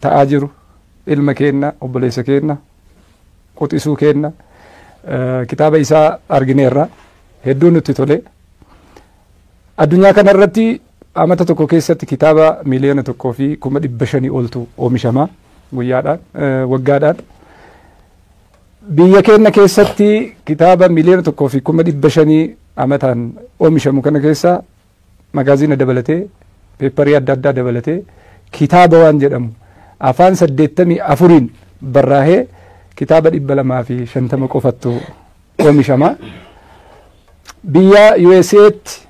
ta'aa jiru ilma keenna obboleessa keenna quxisuu keenna kitaaba isaa argineerra hedduu nutti tole addunyaa kana irratti amata tokko keessatti kitaaba miliyoona tokkoo fi kuma dhibba shanii oltu oomishama guyyaadhaan waggaadhaan biyya keenna keessatti kitaaba miliyoona tokkoo fi kuma dhibba shanii amataan oomishamu kana keessaa Magaaziina dabalatee, peepparii adda addaa dabalatee kitaaba waan jedhamu afaan 84n barraahee kitaaba 250 qofattu oomishama. Biyya USA'tti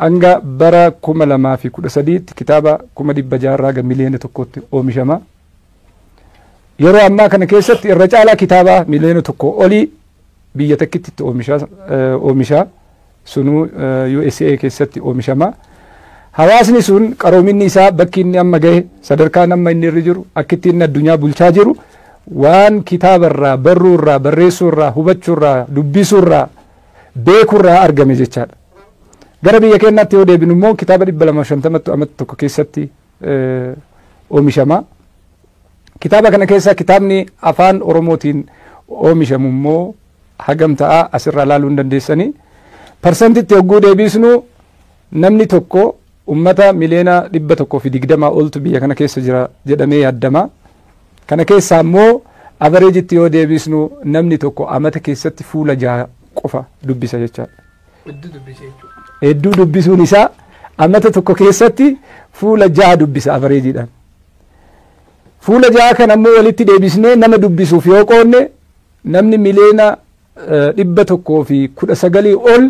hanga bara 2013tti kitaaba 600,000 irraa hanga miliyoona tokkootti oomishama. Yeroo ammaa kana keessatti irra caalaa kitaabaa miliyoona tokkoo olii biyya takkitti itti oomishaa. sunuu usa keessatti oomishama. Hawaasni sun qaroominni isaa bakki inni amma gahe sadarkaan amma inni irra jiru akkitti inni addunyaa bulchaa jiru waan kitaabarraa barruurraa barreessuurraa hubachuurraa dubbisuurraa beekurraa argame jechaadha. Gara biyya keenyaatti yoo deebinu immoo kitaaba 250tu amata tokko keessatti oomishama. Kitaaba kana keessaa kitaabni afaan Oromootiin oomishamu immoo hagam ta'a asirraa ilaaluu hin dandeessanii. Parsantitti hogguu deebiisnu namni tokko ummata miliyoona dhibba tokkoo fi digdamaa oltu biyya kana keessa jira jedhamee yaaddama. Kana keessaa immoo avareejitti yoo deebiisnu namni tokko amata keessatti fuula jaha qofa dubbisa jechaadha. Hedduu dubbisuun isaa amata tokko keessatti fuula jaha dubbisa avareejiidhaan. Fuula jaha kana immoo walitti deebisnee nama dubbisuuf yoo qoodne Namni miliyoona 119 ol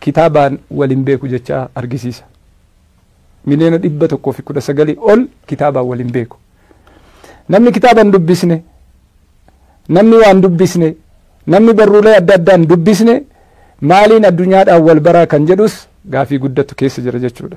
kitaabaan wal hin beeku jecha argisiisa. Miliyoona 119 ol kitaabaan wal hin beeku. Namni kitaaba hin dubbisne, namni waan dubbisne, namni barruulee adda addaa hin dubbisne maaliin addunyaadhaan wal baraa kan jedhus gaafii guddatu keessa jira jechuudha.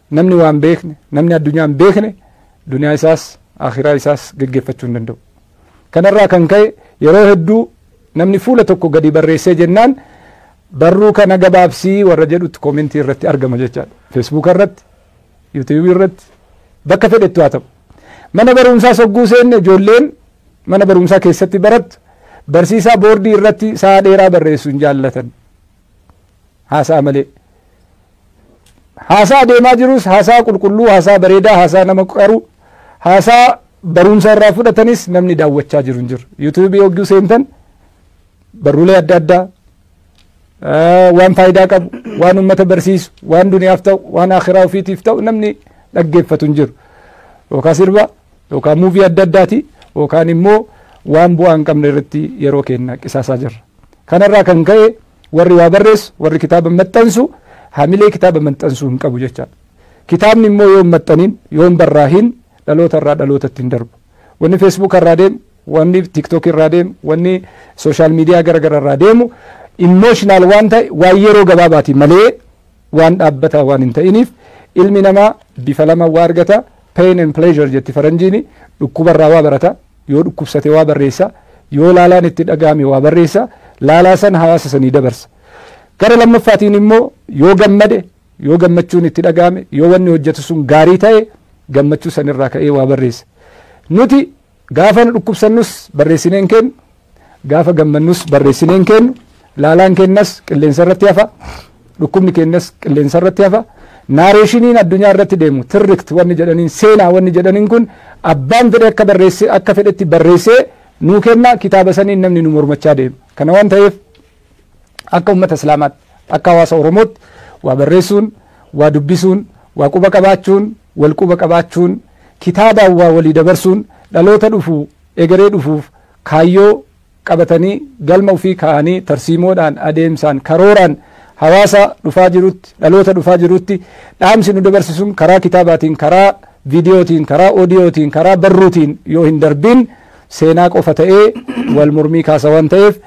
Namni waa hin beekne, namni addunyaa hin beekne duniyaa isaas aakhiraa isaas geggeeffachuu hin danda'u. Kanarraa kan ka'e yeroo hedduu namni fuula tokko gadi barreessee jennaan barruu kana gabaabsii warra jedhutti koomentii irratti argama jechaadha. Feesbuuka irratti, yuutiyuubii irratti bakka fedhettu haa ta'u. Mana barumsaa sogguu seenne ijoolleen mana barumsaa keessatti barattu barsiisaa boordii irratti sa'a dheeraa barreessu hin jaallatan. haasa'a malee. Haasa'a deemaa jirus haasa'a qulqulluu, haasa'a bareedaa, haasa'a nama qaru, haasa'a barumsa irraa fudhatanis namni daawwachaa jiru hin jiru. Yuutuubii hogguu seentan barruulee adda addaa waan faayidaa qabu, waan uummata barsiisu, waan duniyaaf ta'u, waan akhiraa ofiitiif ta'u namni dhaggeeffatu hin jiru. Yookaan sirba yookaan muuvii adda addaati yookaan immoo waan bu'aa hin qabne irratti yeroo keenya qisaasaa jirra. Kanarraa kan ka'e warri waa barreessu warri kitaaba maxxansu hamilee kitaaba maxxansuu hin qabu jechaadha. Kitaabni immoo yoo hin maxxaniin yoo hin barraahin dhaloota irraa dhalootatti hin darbu. Wanni feesbuuka irraa deemu wanni tiktookii irraa deemu wanni sooshaal miidiyaa garaagaraa irraa deemu imooshinaal waan ta'e waan yeroo gabaabaati malee waan dhaabbataa waan hin ta'iniif ilmi namaa bifa lama waa argata Pain and pleasure jetti faranjiini, dhukkuba irraa waa barata, yoo dhukkubsate waa barreessa, yoo laalaan itti dhagahame waa barreessa, laalaa san hawaasa sanii dabarsa. Gara lammaffaatiin immoo yoo gammade, yoo gammachuun itti dhagahame, yoo wanni hojjatu sun gaarii tahe gammachuu san irraa ka'ee waa barreessa. Nuti. Gaafa nu dhukkubsannus barreessinee hin keennu, gaafa gammannus barreessinee hin keennu, laalaan keenyas qilleensa irratti hafa, dhukkubni keenyas qilleensa irratti hafa. Naareeshiniin addunyaa irratti deemu tirrikt wanni jedhaniin seenaa wanni jedhaniin kun abbaan fedhe akka barreesse akka fedhetti barreessee nuu kenna kitaaba saniin namni nu mormachaa deema. Kana waan ta'eef Akka ummata Islaamaatti, akka hawaasa Oromootti waa barreessuun, waa dubbisuun, waa quba qabaachuun, wal quba qabaachuun, kitaabaan waa walii dabarsuun dhaloota dhufu, egeree dhufuuf kaayyoo qabatanii galma ufii kaa'anii tarsiimoodhaan, adeemsaan, karooraan hawaasa dhufaa jirutti, dhaloota dhufaa jirutti dhaamsi nu dabarsisuun karaa kitaabaatiin, karaa viidiyootiin, karaa oodiyootiin, karaa barruutiin yoo hin darbiin, seenaa qofa ta'ee wal mormii kaasa waan ta'eef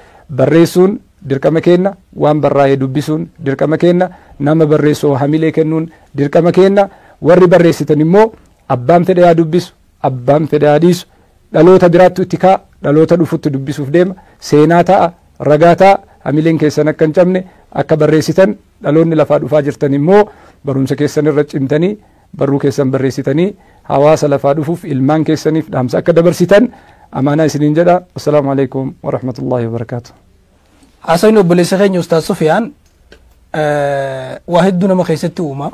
barreessuun dirqama keenna waan barraa'ee dubbisuun dirqama keenna nama barreessoo hamilee kennuun dirqama keenna warri barreessitan immoo abbaan fedhe haa dubbisu abbaan fedhe haa dhiisu dhaloota biraattu itti ka'a dhaloota dhufutti dubbisuuf deema seenaa ta'a ragaa ta'a hamileen keessan akka hin cabne akka barreessitan dhaloonni lafaa dhufaa jirtan immoo barumsa keessan irra cimtanii Barruu keessan barreessitanii hawaasa lafaa dhufuuf ilmaan keessaniif dhaamsa akka dabarsitan amaanaa isiniin jedha. Assalaamu alaikum wa rahmatullahi wa barakaatuh. Haasawni obboleessa keenya Ustaaz Sufiyaan eh, waa hedduu nama keessatti uuma.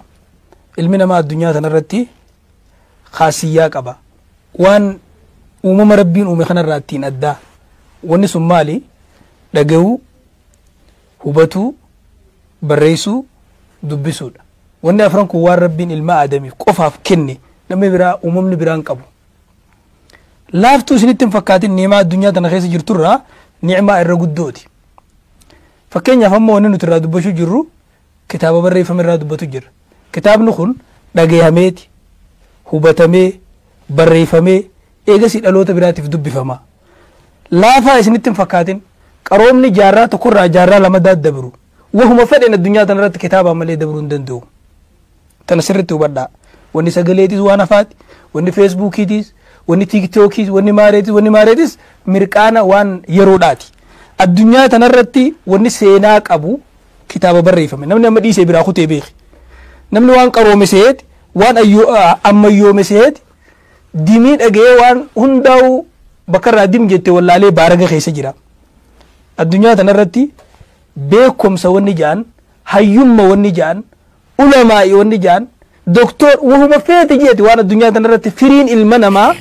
Ilmi namaa addunyaa kanarratti kaasiyyaa qaba. Waan uumama rabbiin uume kanarraa ittiin addaa. Wanni sun maali? Dhaga'uu, hubatuu, barreessuu, dubbisuudha. Wanni afran kun waan Rabbiin ilma Aadamiif qofaaf kenne namni biraa uumamni biraa hin qabu. Laaftuu isinitti hin fakkaatin ni'imaa addunyaa tana keessa jirturraa ni'imaa irra guddooti. Fakkeenyaaf amma wanni nuti irraa dubbachuu jirru kitaaba barreeffame irraa dubbatu jirra. Kitaabni kun dhagayameeti, hubatamee, barreeffamee, Eegasii dhaloota biraatiif dubbifama. Laafaa isinitti hin fakkaatin. Qaroomni jaarraa tokko irraa jaarraa lama daddabru. Wahuma fedheen addunyaa tana irratti kitaabaan malee dabruu hin danda'u. Tana sirriitti hubadhaa. Wanni sagaleetis waan hafaati. Wanni feesbuukiitis, wanni tiiktookiis, wanni maareetis, wanni maareetis mirqaana waan yeroodhaati. Addunyaa tana irratti wanni seenaa qabu kitaaba barreeffame. Namni amma dhiisee biraa kutee beeki. Namni waan qaroome seeti, waan ammayyoome seeti, dimii dhaga'ee waan hundaa'uu bakka irraa dim jette wallaalee baaraga keessa jira. Addunyaa tanarratti beekumsa wanni ja'an, hayyumma wanni ja'an, ulamaa'i wanni ja'an, doktor wahuma feete jeeti waan addunyaa tanarratti firiin ilma namaa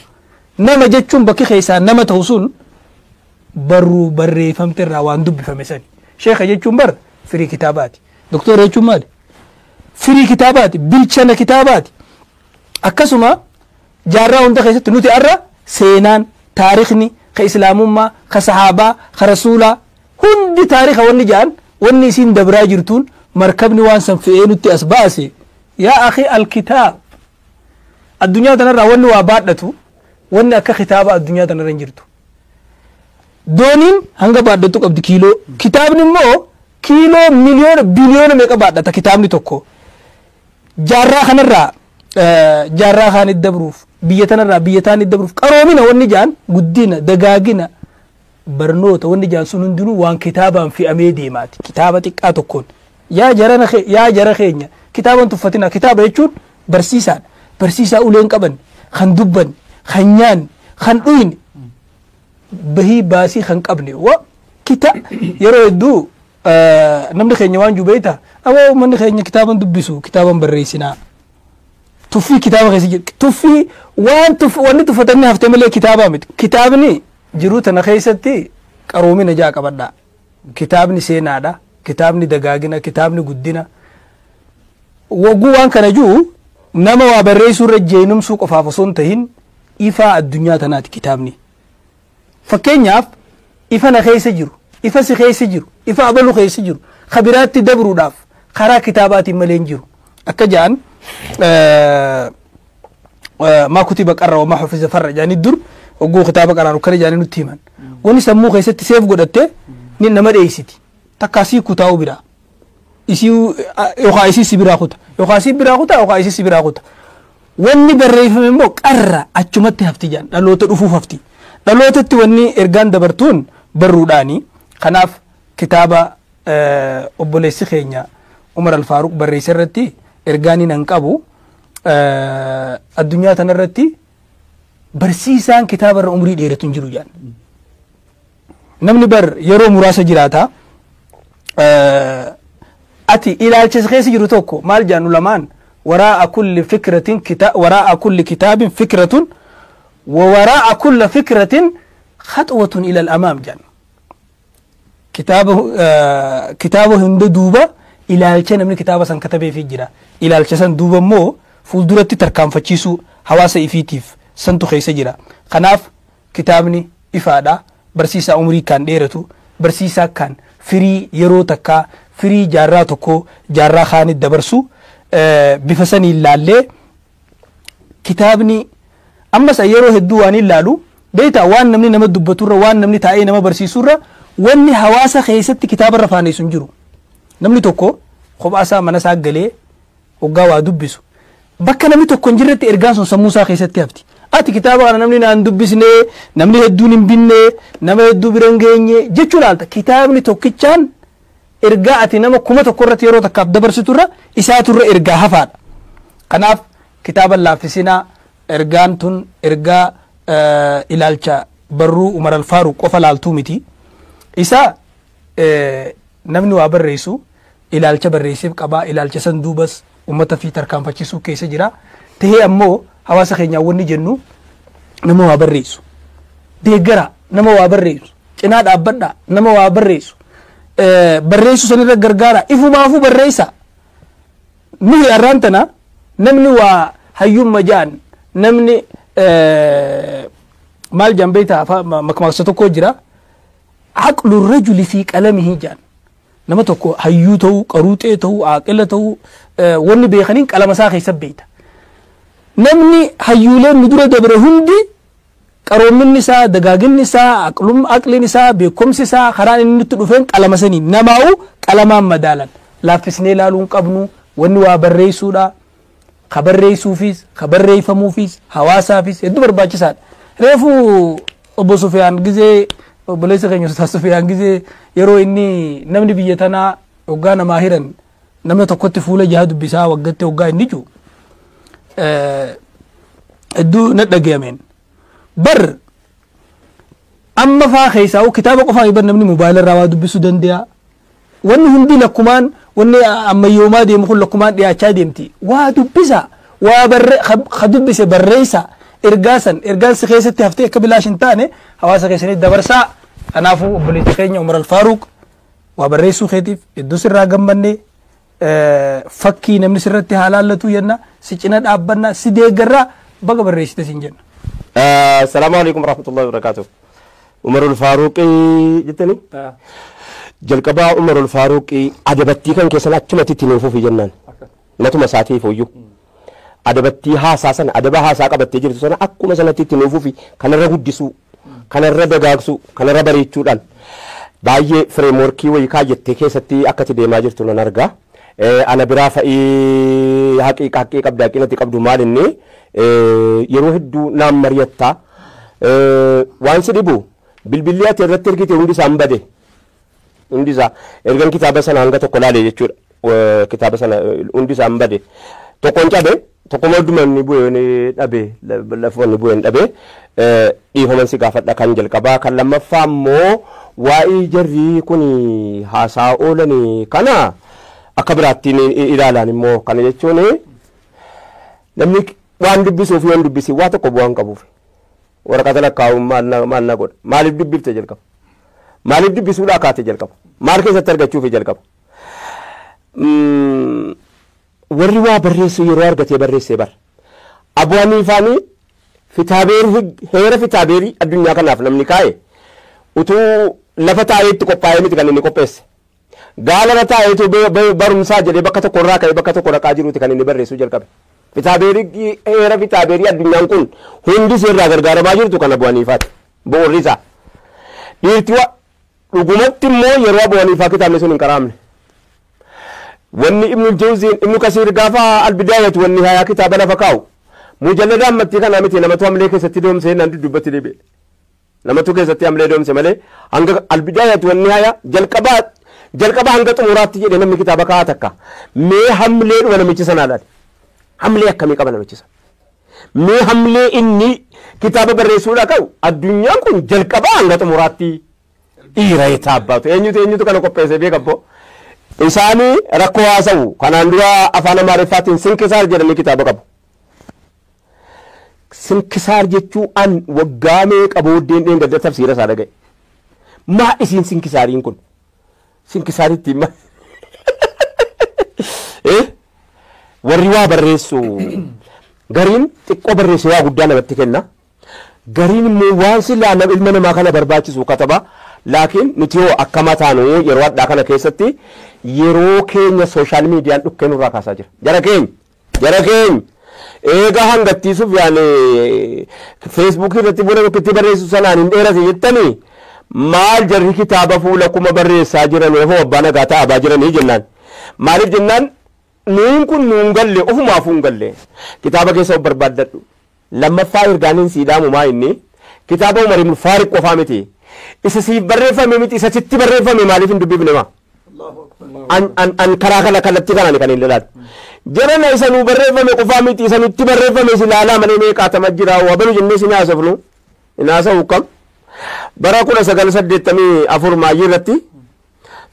nama jechuun bakki keessaa nama ta'u sun barruu barreeffamte irraa waan dubbifame sani. Sheeka jechuun bar firii kitaabaati. Doktora jechuun maali? Firii kitaabaati. Bilchana kitaabaati. Akkasuma jaarraa hunda keessatti nuti har'a seenaan, taarikni, ka Islaamummaa, ka Sahaabaa, ka Rasuulaa, hundi taarika wanni ja'an wanni isiin dabraa jirtuun markabni waan san fe'ee nutti as baase. Yaa akhii al-kitaab. Addunyaa tanarraa wanni waa baadhatu wanni akka kitaaba addunyaa tanarra hin jirtu. Dooniin hanga baadhatu qabdi kiiloo. Kitaabni immoo kiiloo miliyoona biliyoona meeqa baadhata kitaabni tokko. jaarraa kanarraa jaarraa kaanit dabruuf biyya tanarraa biyya taanit dabruuf qaroomina wanni jaan guddina dagaagina barnoota wanni jaan sun hundinuu waan kitaabaan fe'amee deemaati kitaaba xiqqaa tokkoon yaa jarana kee- yaa jara keenya kitaaban tuffatina kitaaba jechuun barsiisaadha barsiisaa uleen qaban kan dubban kan nyaan kan dhuyne bahii baasii kan qabne wa kita yeroo hedduu namni keenya waan jubeeyta aboo uummanni keenya kitaaban dubbisu kitaaban barreessinaa tuffii kitaaba keessa jiru tuffii waan tuff wanni tuffatamni hafte malee kitaabaa miti kitaabni jiruu tana keessatti qaroomina ja'a qabadha kitaabni seenaadha kitaabni dagaagina kitaabni guddina wagguu waan kana jiru nama waa barreessuu irra jeenumsuu qofaaf osoo hin tahin ifaa addunyaa tanaati kitaabni. Fakkeenyaaf, ifa na keessa jiru, ifa si keessa jiru, ifa abalu keessa jiru ka biraatti dabruudhaaf karaa kitaabaatiin malee hin jiru. Akka ja'an maa kutiba qarra wamaa hufiza farra jaanii dur oguu kitaaba qaraan akkana jaanii nutti himan. Wani sammuu keessatti seef godhatte ni nama dheeysiti. Takkaa sii kutaa'u biraa. isiu yokaa isii si biraa kuta yokaa si biraa kuta yokaa isii si biraa kuta wanni barreeffame immoo qarra achumatti hafti jedhan dhaloota dhufuuf hafti dhalootatti wanni ergaan dabartuun barruudhaani kanaaf kitaaba eh, obboleessi keenya umar alfaaruq barreesse irratti ergaan hin hanqabu eh, addunyaa tanarratti barsiisaan kitaaba irra umrii dheeratu hin jiru jedhan Namni bar yeroo muraasa jiraata. Ati ilaalcha isa keessa jiru tokko maal jedhan ulamaan waraa'a kulli fikratin kita waraa'a kulli kitaabin fikratun wa waraa'a kulla fikratin khatwatun ilal amaam jedhan. Kitaaba kitaaba hunda duuba ilaalcha namni kitaaba san katabeefii jira. Ilaalcha san duuba immoo fuulduratti tarkaanfachiisuu hawaasa ifiitiif santu keessa jira. Kanaaf Kitaabni ifaadha, barsiisaa umrii kkaan dheeratu, barsiisaa kkaan firii yeroo takkaa, firii jaarraa tokkoo jaarraa kkaanit dabarsu. Bifa saniin laallee kitaabni ammas an yeroo hedduu waanin laalu beektaa waan namni nama dubbatu irra waan namni taa'ee nama barsiisu irra wanni hawaasa keessatti kitaaba irra faaneessu hin jiru. Namni tokko kophaa isaa mana isaa galee Hoggaa waa dubbisu. Bakka namni tokko hin jirretti ergaan sun sammuu isaa keessatti hafti. Ati kitaaba kana namni naan dubbisne, namni hedduun hin binne, nama hedduu bira hin geenye jechuu laalta. Kitaabni tokkichaan ergaa ati nama kuma tokko irratti yeroo takkaaf dabarsitu irra isaatu irra ergaa hafaadha. Kanaaf kitaaba hin laaffisinaa ergaan tun ergaa eh, ilaalcha barruu Umar Alfaaruq qofa laaltuu miti. Isa Namni waa barreessu ilaalcha barreesseef qaba. Ilaalcha san duubas ummata fi tarkaanfachisuu keessa jira. Tahee ammoo hawaasa keenyaan wanni jennu nama waa barreessu. Deeggaraa nama waa barreessu. Cinaa dhaabbadhaa nama waa barreessu. Barreessuu sanirra gargaaraa. Ifumaafuu barreessaa. Nuhi har'aan tana namni waa hayyumma ja'an namni maal jaan beektaa makmaaksa tokko jira. Aqlu rajuli fi qalamihi jaan. Nama tokko hayyuu ta'uu, qaruuxee ta'uu, aaqila ta'uu wanni beekaniin qalama isaa keessa beeyta. Namni hayyuuleen nu dura dabre hundi qaroominni isaa, dagaaginni isaa, aqlum, aqliin isaa, beekumsi isaa karaan inni nutti dhufeen qalama saniin. Namaa'uu qalamaan madaalan. Laaffisnee ilaaluu hin qabnu. Wanni waa barreessuudha. ka barreessuufiis, ka barreeffamuufiis, hawaasaafis hedduu barbaachisaadha. Reefu obbo Sufiyaan gizee obboleessa keenya Ustaaz Sufiyaan gizee yeroo inni namni biyya tanaa hoggaa namaa hiran nama tokkotti fuula jaha dubbisaa waggatti hoggaa inni jiru hedduu na dhagayameen. Bar amma faa keessaa kitaaba qofaa iban namni mobaayila irraa waa dubbisuu danda'a. Wanni hundi lakkumaan wanni ammayyoomaa deemu kun lakkumaan dhiyaachaa deemti. Waa dubbisaa. Waa barre ka ka dubbise barreessaa. Ergaa san ergaan si keessatti haftee akka bilaash hin taane hawaasa keessanitti dabarsaa. Kanaafuu obboleessa keenya Umar Alfaaruuq waa barreessuu keetiif hedduu sirraa gammanne fakkii namni sirratti haa laallatu jenna si cina dhaabbanna si deeggarraa baga barreessite siin jenna. Salaamu alaikum warahmatullahi wabarakatuh. Umarul Faaruqii jettanii? Jalqabaa Umarul Faaruqii adabattii kan keessan achumatti itti nuuf fufi jennaan. Matuma isaatiif hoyyuu. adabattii haasaa sana adaba haasaa qabattee jirtu sana akkuma sanatti itti nuu fufi kanarra guddisuu kanarra dagaagsuu kanarra bareechuudhaan baay'ee fireemworkii wayii kaayyattee keessatti akka itti deemaa jirtu nan argaa. Eh, ana biraa fa'ii haqiiqa haqqii qabda haqinatti qabdu maal inni eh, yeroo hedduu naan mari'atta Eh, waan si dhibu bilbilli ati irratti ergite hundi isaan bade Hundi isaa ergan kitaaba sana hanga tokko laale jechuudha. Eh, Kitaaba sana eh, hundi isaa hin bade. Tokkoon cabe tokkuma hunduma inni bu'ee ni dhabe la- lafuma inni bu'ee hin dhabe Eh, dhiifaman si gaafadha kan jalqabaa kan lammaffaa immoo waa'ee jarrii kun haasaa oolanii kana akka biraattiin i- i- ilaalaan immoo kana jechuun namni waan dubbisuuf yoo hin dubbisiin waa tokko bu'aa hin qabuuf. Waraqata lakkaa'uun maal na, maal na godha? Maaliif dubbifte jalqaba? Maaliif dubbisuudhaa kaate jalqaba? Maal keessatti argachuufi jalqaba? Mm, warri waa barreessu yeroo argatee barreessee bara. Abu Haniifaanii fitaabeer hig- heera fitaabeerii addunyaa kanaaf namni kaa'e utuu lafa taa'ee itti qophaa'ee miti kan inni qopheesse. Gaalara taa'ee utuu barumsaa jedhee bakka tokko irraa ka'ee bakka tokko dhaqaa jiruuti kan inni barreessuu jalqabe. Fitaabeerii heera fitaabeerii addunyaan kun hundi seerraa gargaaramaa jirtu kan abu'aniifaati. Bu'uurri isaa. Dhiirti wa dhugumatti immoo yeroo abu'aniifaa kitaabni sun hin qaraamne. Wanni ibnu jawziin ibnu kasiir gaafa albidaayatu wanni hayaa kitaaba lafa kaa'u. Mujalladaan mattii kanaa miti namatu hamlee keessatti doomsee naan duddubbatti deebi'e. Lamatu keessatti amlee doomse malee hanga albidaayatu wanni haya jalqabaa jalqabaa hanga xumuraatti jedhe namni kitaaba ka'aa takka mee hamlee dhuma namichi sanaa laale hamlee akkamii qaba namichi sana mee hamlee inni kitaaba barreessuudhaa ka'u addunyaan kun jalqabaa hanga xumuraatti dhiira etaa abbaatu eenyutu eenyutu kana qopheessee beekabboo isaanii rakkoo haasa'u kanaan dura afaan amaariffaatiin sinkisaar jedhanii kitaaba qabu. Sinkisaar jechuu an waggaa meeqa booddeen dheengadda tafsiira isaa dhaga'e. Maa isiin sinkisaariin kun? Sinkisaar ittiin ma... Eh? Warri waa barreessu gariin xiqqoo barreesse waa guddaa namatti kenna. Gariin immoo waan silaa nam- ilma namaa kana barbaachisu kataba. Laakiin nuti hoo akkama taanu yeroo hadhaa kana keessatti yeroo keenya sooshaal miidiyaan dhukkee nurraa kaasaa jira. Jara keenya. Jara keenya! Eega hangattii Sufyaan Facebook irratti fuula tokkotti barreessu sanaan hin dheerate jettanii maal jarri kitaaba fuula kuma barreessaa jiran hoo abbaa nagaa ta'abaa jiranii jennaan. Maaliif jennaan nuun kun nuun galle ofumaafuu hin galle. Kitaaba keessa of barbaaddadhu. Lammaffaa ergaan hin sii dhaamu maa inni kitaaba Umar ibn Faariq qofaa miti. Isa siif barreeffame miti isa sitti barreeffame maaliif hin dubbifne maa? An, an, an karaa kana kallattii kanaan kan hin ilaalu. Jarana isa nuu barreeffame qofaa miti isa nutti barreeffame si ilaalaa malee mee qaatama jiraa wabalu jennee sin haasofnu hin haasa'u kam. Bara kudha sagal saddeettamii afur maayyii irratti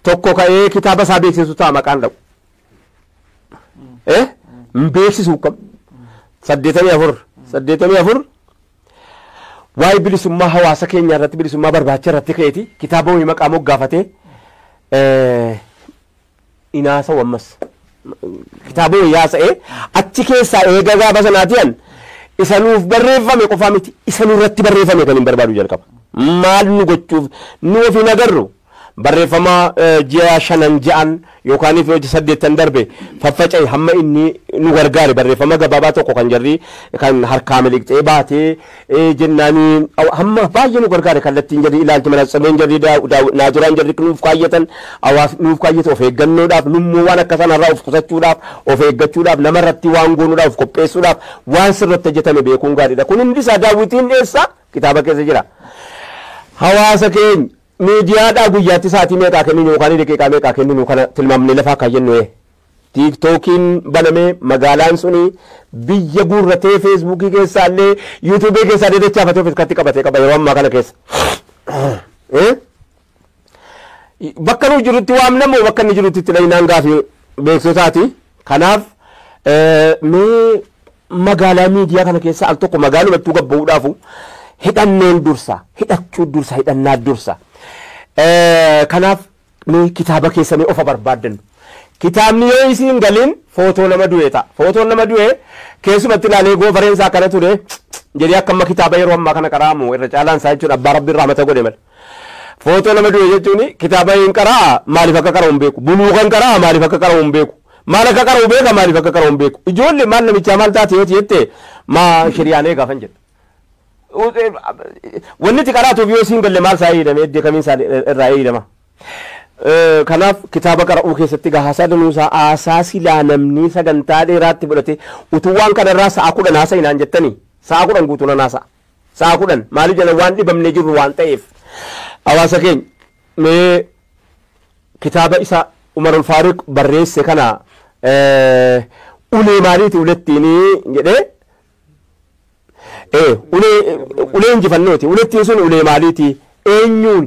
tokko ka'ee kitaaba isaa beeksisu ta'a maqaan dha'u. eh, hin beeksisuu qabu saddeetamii afur saddeetamii afur waa'ee bilisummaa hawaasa keenyaa irratti bilisummaa barbaacha irratti ka'eeti kitaaba wayii maqaa moggaafatee eh, inaasa wammas kitaaba wayii haasa'ee achi keessaa eega gaafa sanaatiyan isa nuuf barreeffame qofaa miti isa nurratti barreeffame kan hin barbaadu jalqaba maal nu gochuuf nu ofiin agarru Barreeffama ji'a shanan ja'an yookaaniif yoo saddeettan darbe faffaca'i hamma inni nu gargaare barreeffama gabaabaa tokko kan jarri kan harkaa miliqxee baatee ee, jennaani aw- hamma baay'ee nu gargaare kallattiin jarri ilaalchi manatsirreen jarri daa- daa- naajuraan jarri nuuf kaayyatan hawaas nuuf kaayyate of eeggannoodhaaf nummoo waan akka sanarraa of qusachuudhaaf of eeggachuudhaaf namarratti waan goonuudhaaf of qopheessuudhaaf waan sirratti hojjetame beekuun gaariidha kun hundi isaa daawwitiin eessa kitaaba keessa jira. hawaasa keenya Miidiyaadhaa guyyaatti sa'aatii meeqaa kenninu yookaan daqiiqaa meeqaa kenninu kana tilmaamnee lafa akka jennu ee. Tiiktookiin banamee magaalaan suni biyya guurratee feesbuukii keessaallee yuutuubii keessaallee dachaafatee of irkatti qabate qaba yeroo ammaa kana keessa. Ee? Bakka nuyi jirutti waamna moo bakka inni jirutti itti dhahinaan gaafii beeksisootaati. Kanaaf mee magaalaa miidiyaa kana keessa al tokko magaalumattuu gabba'uudhaafu hidhanneen dursa hidhachuu dursa hidhannaa dursa. Kanaaf mee kitaaba keessanii ofa barbaaddan. Kitaabni yoo isiin galiin footoo nama du'e ta'a. Footoon nama du'e keessumatti ilaalee goofareen isaa akkana ture jedhee akka amma kitaaba yeroo ammaa kana qaraamu irra caalaan isaa jechuun abbaa rabbiin rahmata godhe malee. Footoo nama du'e jechuun kitaaba hin qara'a maaliif akka qara'u hin beeku. Buluuqa hin qara'a maaliif akka qara'u hin beeku. Maal akka qara'u beeka maaliif akka qara'u hin beeku. Ijoollee maal namichaa maal taate yoo jette maa shiriyaan eegaa kan jedhu. Wanni itti qaraatuuf yoo siin galle maal isaa eeydame eddee kamiin isaa irraa eeydama. Kanaaf kitaaba qara'uu keessatti gaa haasaa danuusaa haasaa silaa namni sagantaa dheeraatti fudhate utuu waan kanarraa sa'a kudhan haasa'inaan jettanii sa'a kudhan guutuu nan haasa'a. Sa'a kudhan maaliif jennaan waan dhibamnee jirru waan ta'eef. Hawaasa keenya mee kitaaba isa Umarul Faaruq barreesse kana ulee maaliiti ulettiini jedhee ee ulee ulee injifannooti ulettiin sun ulee maaliiti eenyuun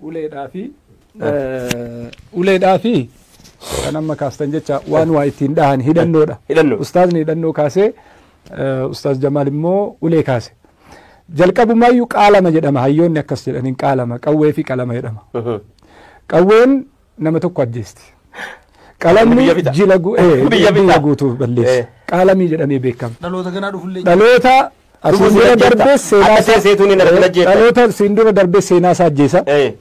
uleedhaa fi uleedhaa fi kan amma kaastan jecha waan waa ittiin dhahan hidhannoodha. Hidhannoo. Ustaazni hidhannoo kaasee eh, Ustaaz Jamaal immoo ulee kaase. Jalqabumaayyuu qaalama jedhama hayyoonni akkas jedhaniin qaalama qawwee fi qalama jedhama. Qawween nama tokko ajjeesti. Qalamni Biyya fixa. jila gu- eh, Biyya fixa. biyya guutuu balleessa. Eh. Qaalamii jedhamee beekama. Dhaloota ganaa dhufullee. Dhaloota Asiin Lubbuun dura jirajjeetta. darbees seenaa Akka isaa- seeseetuun hin argina Eh, jeetta. Dhaloota siin dura darbees seenaa isaa ajjeesa. Eh,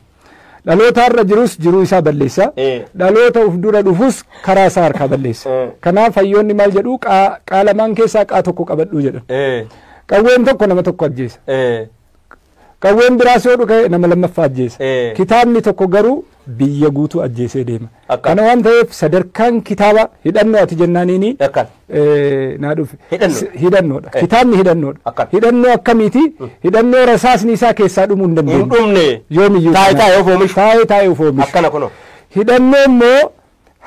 Dhaloota irra jirus jiruu isaa balleessa. Eh. Dhaloota uf dura dhufus karaa isaa harkaa balleessa. Eh. Kanaaf hayyoonni maal jedhu qaa qaa lamaan keessaa qaa tokko qabadhuu jedhan. eh, Qawween tokko nama tokko ajjeesa. eh, Qawween biraas yoo dhuka'e nama lammaffaa ajjeesa. Ee. Kitaabni tokko garuu biyya guutuu ajjeesee deema. Akka. Kana waan ta'eef sadarkaan kitaabaa hidhannoo ati jennaaniini Akka. eh, naa dhufe. Hidhannoo. S- Hidhannoodha. Eh. Kitaabni hidhannoodha. Akka. Hidhannoo akkamiiti? Hidhannoo rasaasni isaa keessaa dhumuu hin dandeenye. Hin dhumne. Yoomiyyuu. Taa'ee kana. taa'ee of oomishu. Taa'ee taa'ee of oomishu. Akkana kunoo. Hidhannoo immoo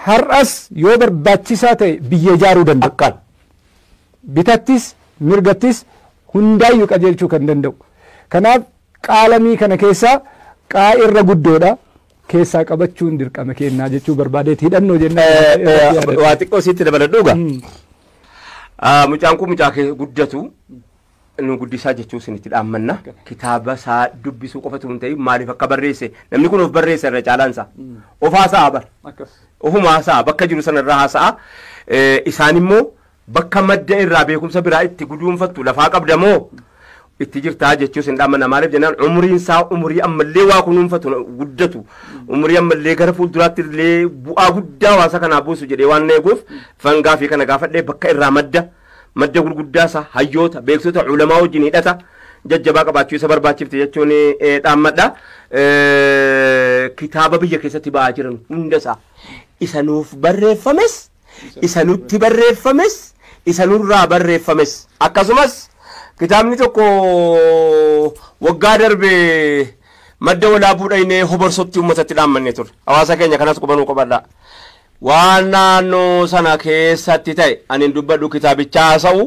har'as yoo barbaachisaa ta'e biyya ijaaruu danda'a. Akkaan. bitattis mirgattis hundaayyu qajeelchuu kan danda'u. Kanaaf qaalamii kana keessaa qaa irra guddoodha. keessaa qabachuun dirqama keennaa jechuu barbaadeeti hidhannoo jennaan. Waa xiqqoo siitti dabaladhuuga. Mucaan kun mucaa kee guddatu nu guddisaa jechuun isinitti dhaammanna. Kitaaba isaa dubbisuu qofatu hin ta'in maaliif akka barreesse namni kun of barreesse irra caalaan isaa. Of haasa'a bar. Ofumaa haasa'a bakka jiru sana irraa haasa'a. Isaan immoo Bakka madda irraa beekumsa biraa itti guduunfattu lafaa qabda moo itti jirtaa jechuus hin dhaamana maaliif jennaan umuriin isaa umurii ammallee waa kunuunfatu guddatu umurii ammallee gara fuulduraatti illee bu'aa guddaa hawaasa kanaa buusu jedhee waan eeguuf fangaa fi kana gaafadhee bakka irraa madda madda gurguddaa isaa hayyoota beeksota ulamaa wajjin hidhata jajjabaa qabaachuu isa barbaachifte jechuun eh, dhaammadha Eh, kitaaba biyya keessatti ba'aa jiran hunda isaa isa nuuf barreeffames Isa nutti barreeffames, isa nurraa barreeffames. Akkasumas, kitaabni tokko waggaa darbe Madda Walaabuu dhaynee Hoborsotti uummatatti dhaammannee turre. Hawaasa keenya kanas quba nuu qabadhaa. Waan naannoo sana keessatti ta'e ani hin dubbadhu kitaabicha haasa'u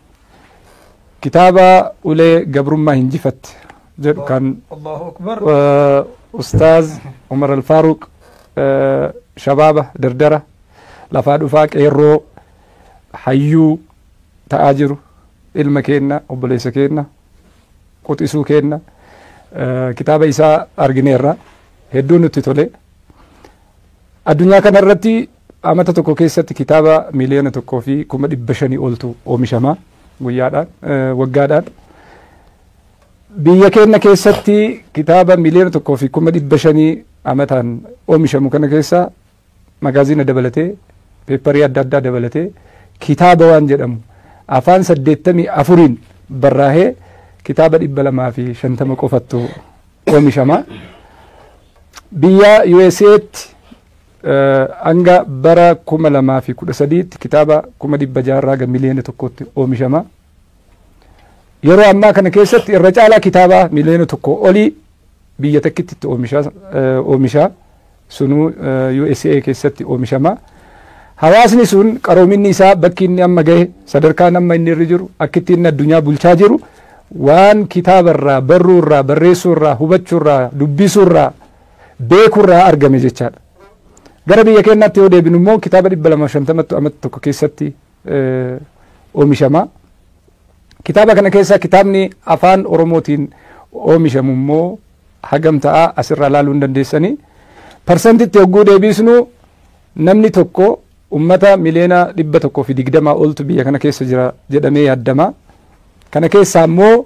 kitaaba ulee gabrummaa hinjifatte jedhu kan Allahu akbar. eh, ustaaz umar alfaaruq eh, shabaaba dardara lafaa dhufaa qeerroo hayyuu ta'aa jiru ilma keenna obboleessa keenna quxisuu keenna eh, kitaaba isaa argineerra hedduu nutti tole addunyaa kana irratti Amata tokko keessatti kitaaba miiliyoona tokkoo fi kuma dhibba shanii oltu oomishama guyyaadhaan waggaadhaan. Biyya keenya keessatti kitaaba miiliyoona tokkoo fi kuma dhibba shanii amataan oomishamu kana keessa magaaziina dabalatee peepparii adda addaa dabalatee kitaaba waan jedhamu afaan saddeettamii afuriin barraahee kitaaba dhibba lamaa fi shantama qofattu oomishama. Biyya USA'tti Hanga bara 2013tti kitaaba 600,000 irraa hanga miliyoona tokkootti oomishama. Yeroo ammaa kana keessatti irra caalaa kitaaba miliyoona tokkoo olii biyya takkitti itti oomisha. Sunuu USA keessatti oomishama. Hawaasni sun qaroominni isaa bakki inni amma gahe sadarkaan amma inni irra jiru akkitti inni addunyaa bulchaa jiru waan kitaaba irraa barruu irraa barreessuu irraa hubachuu irraa dubbisuu irraa beeku irraa argame jechaadha. Gara biyya keenyaatti yoo deebinu immoo kitaaba 250ttu amata tokko keessatti oomishama. Kitaaba kana keessaa kitaabni afaan Oromootiin oomishamu immoo hagam ta'a asirraa ilaaluu hin dandeessanii. Parsantitti hogguu deebisnu namni tokko ummata miliyoona dhibba tokkoo fi digdamaa oltu biyya kana keessa jira jedhamee yaaddama. Kana keessaa immoo